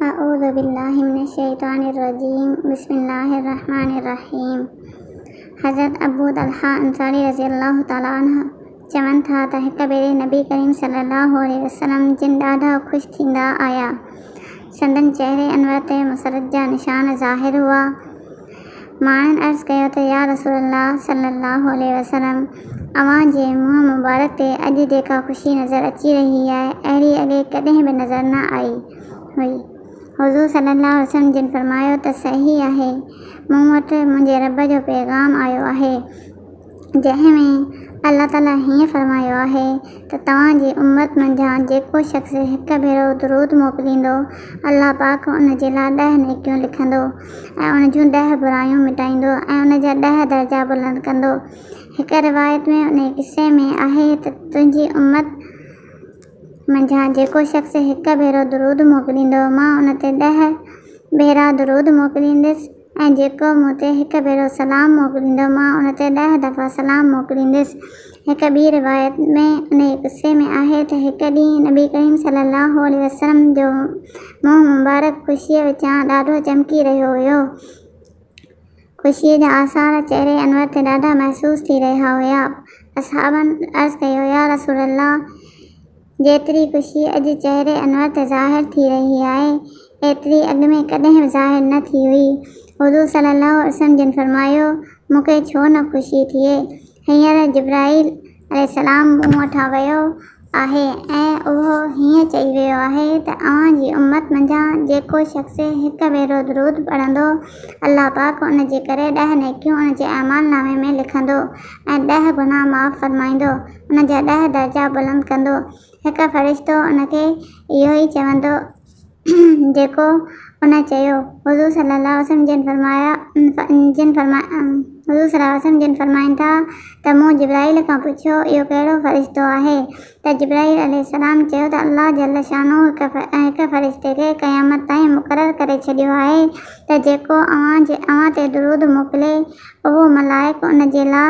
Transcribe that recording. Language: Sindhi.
اعوذ بالله من الشيطان الرجيم بسم الله الرحمٰن الرحيم حضرت ابو طلحه انصاري رضي الله تعالٰي عنه چون ٿا ته هڪ ڀيري نبي ڪريم صلي الله عليه وسلم جن ڏاڍا خوش ٿيندا آيا سندن چهري انور تي مسرت جا نشان ظاهر هئا ماڻهن عرض ڪيو ته يا رسول الله صلّي الله عليه وسلّم اوهان جي منهن مبارڪ تي اڄ جيڪا خوشي نظر اچي رهي آهي اهڙي اڳي ڪڏهن به نظر نه آئي هئي حضور صلّي الله عليه وسلّم جن فرمايو ته صحيح آهي مون وٽ منهنجي ربّ جو پيغام آيو آهي جنهن ۾ الله تعاليٰ هيئن فرمايو آهي ته توهان جي امت منجهان جيڪو شخص هڪ ڀيرو درود موڪليندو، الله پاڪ ان جي لاء ڏهه نيڪيون لکندو ۽ ان جون ڏهه برايون مٽائيندو ۽ ان جا ڏهه درجا بلند ڪندو. هڪ روايت ۾ انهيء قصي ۾ آهي ته تنهنجي امت منجهان جيڪو شخص هڪ ڀيرو درود موڪليندو مان ان تي ڏهه ڀيرا درود موڪلينديس ۽ جيڪو مون تي هڪ ڀيرو سلام موڪليندو مان ان تي ڏهه دفعا سلام موڪليندس. هڪ ٻي روايت ۾ انهيء قصي ۾ آهي ته هڪ ڏينهن نبي ڪريم صلي الله عليه وسلم جو منهن مبارڪ خوشيء وچان ڏاڍو چمڪي رهيو هيو. خوشيء جا آثار چهري انور تي ڏاڍا محسوس ٿي رهيا هيا. اصحابن عرض ڪيو، يا رسول الله! جيتري خوشي اڄ چهري انور تي ظاهر ٿي رهي آهي، ايتري اڳ ۾ ڪڏهن به ظاهر نه ٿي هئي. حضور صلّي اللّٰه عليه وسلّم جن فرمايو، مون کي ڇو نه خوشي ٿئي؟ هينئر جبرائيل عليه السّلام مون وٺان ويو آهي ۽ اهو هيئن چئي ويو آهي ته اوهان جي امّت منجهان جيڪو شخص هڪ ڀيرو درود پڙهندو، الله پاڪ ان جي ڪري ڏهه نيڪيون ان جي اعمال نامي ۾ لکندو ۽ ڏهه گناهه معاف فرمائيندو. ان جا ڏهه درجا بلند ڪندو. هڪ فرشتو ان کي اهو ئي چوندو جيڪو ان چيو. حضور صلي الله عليه وسلم جن فرمايا جن فرمايا حضور صلي الله عليه وسلم جن فرمائن ٿا ته مون جبرائيل کان پڇيو اهو ڪهڙو فرشتو آهي ته جبرائيل عليه السلام چيو ته الله جل شانه هڪ فرشتي کي قيامت تائين مقرر ڪري ڇڏيو آهي ته جيڪو اوهان تي درود موڪلي اهو ملائڪ ان جي لاء